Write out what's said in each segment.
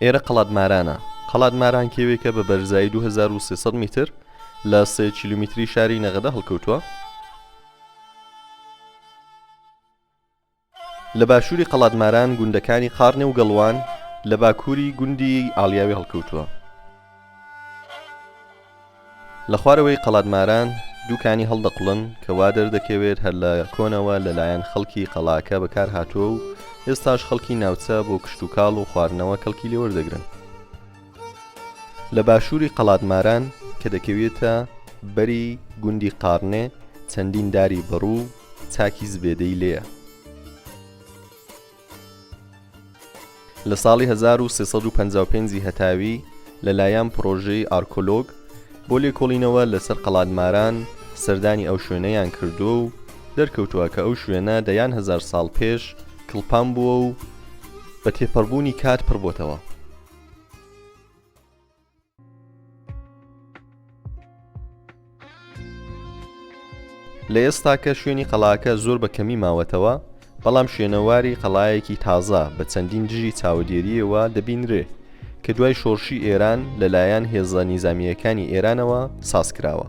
ئێرە قەڵات مارانە، قەڵات ماران کێوێکە بە بەرزایی 2300 میتر لە سێ کیلومیتری شاری نەغەدە هەڵکەوتووە، لە باشووری قەڵادماران گوندەکانی قاڕنێ و گەڵوان لە باکووری گوندی ئاڵیاوی هەڵکەوتووە. لە خوارەوەی قەڵادماران دوو کانی هەڵدەقوڵن کە وا دەردەکەوێت هەر لە کۆنەوە لە لایەن خەڵکی قەڵاکە بەکار هاتووە و ئێستاش خەڵکی ناوچە بۆ کشتوکاڵ و خواردنەوە کەڵکی لێ وەردەگرن. لە باشووری قەڵات ماران کە دەکەوێتە بەری گوندی قاڕنێ چەندین داری بەڕوو و چاکی زبێدەی لێیە. لە ساڵی هەزار و سێ سەد و پەنجا و پێنج ی هەتاوی لە لایان پڕۆژەی ئارکۆلۆگ بۆ لێکۆڵینەوە لە سەر قەڵات ماران سەردانی ئەو شوێنەیان کردووە و دەرکەوتووە کە ئەو شوێنە دەیان هەزار ساڵ پێش کڵپان بووە و بە تێپەڕبوونی کات پڕبۆتەوە. لە ئێستاکە شوێنی قەڵاکە زۆر بە کەمی ماوەتەوە بەڵام شوێنەواری قەڵایەکی تازە بە چەندین دژی چاودێریەوە دەبینرێ کە دوای شۆرشی ئێران لەلایەن هێزە نیزامییەکانی ئێرانەوە سازکراوە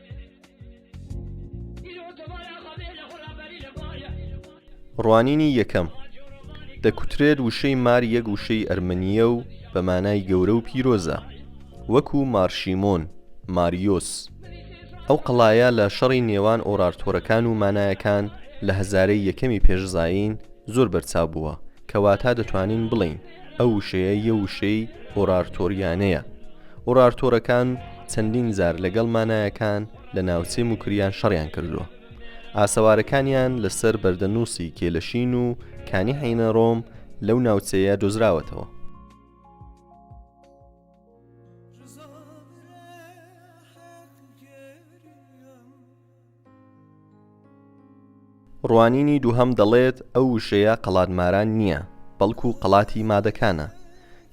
ڕوانینی یەکەم، دەکوترێت وشەی مار یەک وشەی ئەرمەنییە و بە مانای گەورە و پیرۆزە وەکو مارشیمۆن، ماریۆس، ئەو قەڵایە لە شەڕی نێوان ئۆرارتۆرەکان و مانایەکان لە هەزارەی یەکەمی پێش زایین زۆر بەرچاو بووە کە واتا دەتوانین بڵێین. ئەو وشەیە یە وشەی ئۆرارتۆریانەیە ئۆرارتۆرەکان چەندین جار لەگەڵ مانایەکان لە ناوچەی موکریان شەڕیان کردووە ئاسەوارەکانیان لەسەر بەردەنووسی کێلەشین و کانی حینە ڕۆم لەو ناوچەیە دۆزراوەتەوە ڕوانینی دووهەم دەڵێت ئەو وشەیە قەڵات ماران نییە، بەڵکو قەڵاتی مادەکانە.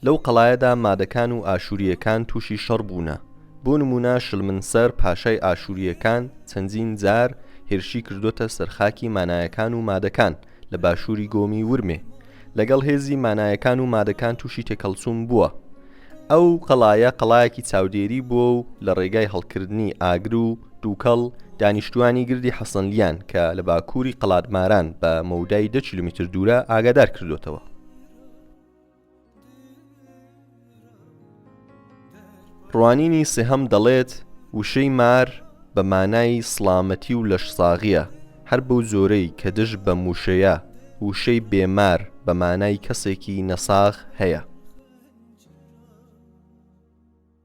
لەو قەڵایەدا مادەکان و ئاشوورییەکان تووشی شەڕ بوونە. بۆ نموونە شلمنسەر پاشای ئاشوورییەکان چەندین جار هێرشی کردۆتە سەر خاکی مانایەکان و مادەکان، لە باشووری گۆمی ورمێ لەگەڵ هێزی مانایەکان و مادەکان تووشی تێکەڵچوون بووە ئەو قەڵایە قەڵایەکی چاودێری بووە و لە ڕێگای هەڵکردنی ئاگر و دووکەڵ دانیشتوانی گردی حەسەنلیان کە لە باکووری قەڵادماران بە مەودای دە کیلومیتر دوورە ئاگادار کردوێتەوە ڕوانینی سێهەم دەڵێت وشەی مار بە مانای سڵامەتی و لەشساغییە، هەر بەو جۆرەی کە دژ بەم وشەیە وشەی بێ مار بە مانای کەسێکی نەساغ هەیە.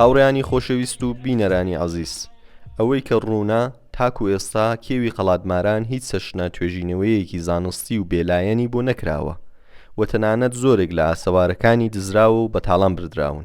هاوڕێیانی خۆشەویست و بینەرانی عزیز ئەوەی کە ڕوونە تاکو ئێستا کێوی قەڵاتماران هیچ سەشنە توێژینەوەیەکی زانستی و بێلایەنی بۆ نەکراوە و تەنانەت زۆرێک لە ئاسەوارەکانی دزراوە و بەتاڵان بردراون